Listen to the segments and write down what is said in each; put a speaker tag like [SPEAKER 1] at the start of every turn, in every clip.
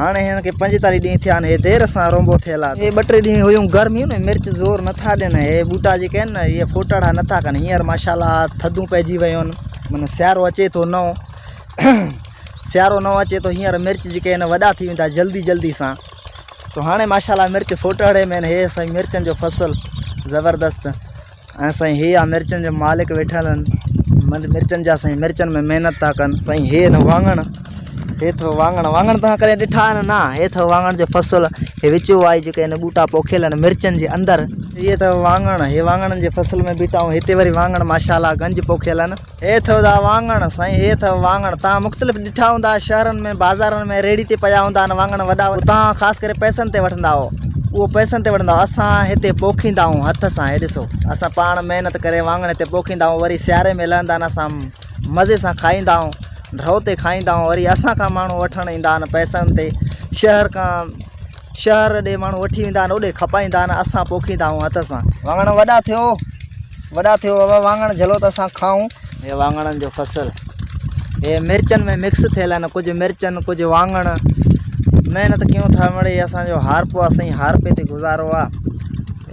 [SPEAKER 1] هاڻي هن کي پنجيتاليهه ڏينهن ٿيا آهن. هي دير سان رونبو ٿيل آهي. هي ٻه ٽي ڏينهن هيون گرميون ۾ مرچ زور نٿا ڏين. هي ٻوٽا جيڪي آهن نه اهي ڦوٽاڙا نٿا ڪن. هينئر ماشاءالله ٿڌون پئجي ويون آهن. معنيٰ سيارو اچي ٿو نئون. سيارو نئون اچي ٿو هينئر مرچ جيڪي آهن وڏا ٿي ويندا جلدي جلدي سان. سو هاڻي ماشاءالله مرچ ڦوٽاڙي ۾ آهن. هي سائين مرچن جو فصل زبردست. ۽ سائين هي آ مرچن جا مالڪ ويٺل آهن مرچن جا سائين مرچن ۾ محنت ٿا ڪن سائين هي اٿو واڱڻ هي اٿو واڱڻ واڱڻ تان ڪري ڏٺا آهن نا هي اٿو واڱڻ جو فصل هي وچ وائي جيڪي هن ٻوٽا پوکيل آهن مرچن جي اندر هي اٿو واڱڻ هي واڱڻن جي فصل ۾ بيٺا آهيون هتي وري واڱڻ ماشاء الله گنج پوکيل آهن هي اٿئو دا واڱڻ. سائين هي اٿئو واڱڻ. توهان مختلف ڏٺا هوندا شهرن ۾ بازارن ۾ ريڙهي تي پيا هوندا آهن واڱڻ وڏا وڏا توهان خاص ڪري پئسن تي وٺندا هئو اهو پئسن تي وٺندا هئو اسان هتي پوکيندا هئون هٿ سان هي ڏسو اسان پاڻ محنت ڪري واڱڻ هتي پوکيندا هئون وري سياري ۾ لهندا آهن اسان مزي سان کائيندا هئون ڍؤ تي کائيندا هئون وري اسان کان ماڻهو وٺڻ ايندا آهن پئسن تي شهر کان شهر ڏي ماڻهو وٺي ويندا آهن اوڏي کپائيندا آهن اسان پوکيندا آهيون هٿ سان. واڱڻ وڏا ٿيو وڏا ٿيو بابا واڱڻ جهلو ته اسان کائون. هي واڱڻن جو فصل هي مرچن ۾ مڪس ٿيل آهن ڪجهه مرچن ڪجهه واڱڻ محنت ڪيون ٿا مڙئي اسان جو هارپو آهي سائين هارپي تي گذارو آهي.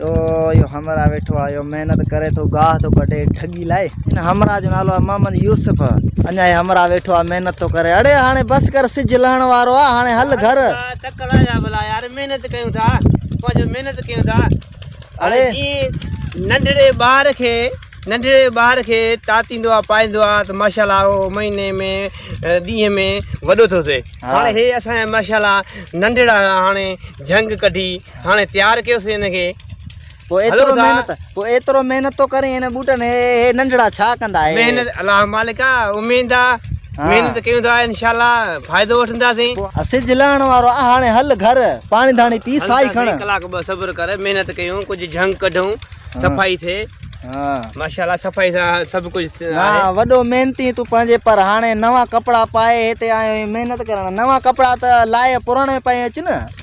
[SPEAKER 1] اهو اهو همراهه ويٺو آهي اهو محنت ڪري ٿو گاهه ٿو ڪڍي ڍڳي لاء هن همراهه جو نالو آهي محمد يوسف اڃا هي همراهه ويٺو آهي محنت ٿو ڪري اڙي هاڻي بس ڪر سج لهڻ وارو آهي هاڻي هل گهر تڪ لايا بلا
[SPEAKER 2] يار محنت ڪيون ٿا پنهنجو محنت ڪيون ٿا اڙي
[SPEAKER 1] ننڍڙي ٻار کي
[SPEAKER 2] ننڍڙي ٻار کي تاتيندو آهي پائيندو آهي ته ماشاء الله اهو مهيني ۾ ڏينهن ۾ وڏو ٿو ٿئي هاڻي هي اسان ماشاء الله ننڍڙا هاڻي جهنگ ڪڍي هاڻي تيار ڪيوسين هن کي پوء ايترو
[SPEAKER 1] محنت پوء ايترو محنت ٿو ڪرين هن بوٽن هي هي ننڍڙا ڇا ڪندا هي محنت الله مالڪ
[SPEAKER 2] آ اميد آ محنت ڪيون ٿا انشاءالله فائدو وٺنداسين سج لهڻ وارو
[SPEAKER 1] آ هاڻي هل گهر پاڻي ڌاڻي پي سائي کڻ ڪلاڪ ٻه صبر ڪر
[SPEAKER 2] محنت ڪيون ڪجهه جهنگ ڪڍون صفائي ٿئي ها ماشاءالله صفائي سان سڀ ڪجهه ها وڏو محنتي
[SPEAKER 1] تو پنهنجي پر هاڻي نوان ڪپڙا پائي هتي آيو محنت ڪرڻ نوان ڪپڙا ته لاهي پراڻا پائي اچ نه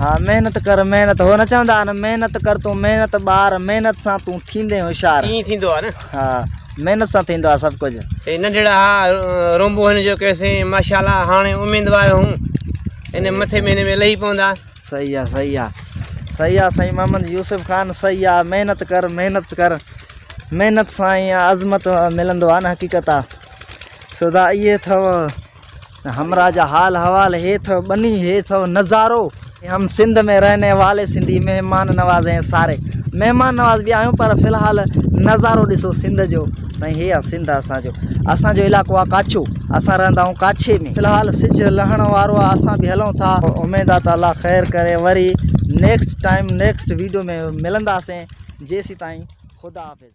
[SPEAKER 2] ها محنت
[SPEAKER 1] ڪر محنت هو نه چوندا آهن محنت ڪر تون محنت ٻار محنت سان تون ٿيندين هوشيار ائين ٿيندو آهي نه ها
[SPEAKER 2] محنت
[SPEAKER 1] سان ٿيندو آهي سڀ ڪجهه هي ننڍڙا ها
[SPEAKER 2] رومبو هن جو ڪيسي ماشاءالله هاڻي اميدوار هون ان مٿي مهيني ۾ لهي پوندا صحيح آهي صحيح
[SPEAKER 1] آهي صحيح آ سائين محمد يوسف خان صحيح آ محنت ڪر محنت ڪر محنت سان عظمت ملندو آ نه حقيقت آ سودا اي اٿو همراهه جا حال حوال هي ٿو ٻني هي ٿو نظارو. هم سنڌ ۾ رهني والي سنڌي مهمان نواز هين ساري مهمان نواز به آهيون پر في الحال نظارو ڏسو سنڌ جو ۽ هي آ سنڌ اسان جو اسان جو علائقو آ ڪاڇو اسان رهندا آهيون ڪاڇي ۾ في الحال سج لهڻ وارو آ اسان به هلون ٿا اميد آ ته الله خير ڪري وري نيڪسٽ ٽائيم نيڪسٽ ويڊيو ۾ ملنداسين جيسيتائين خدا حافظ.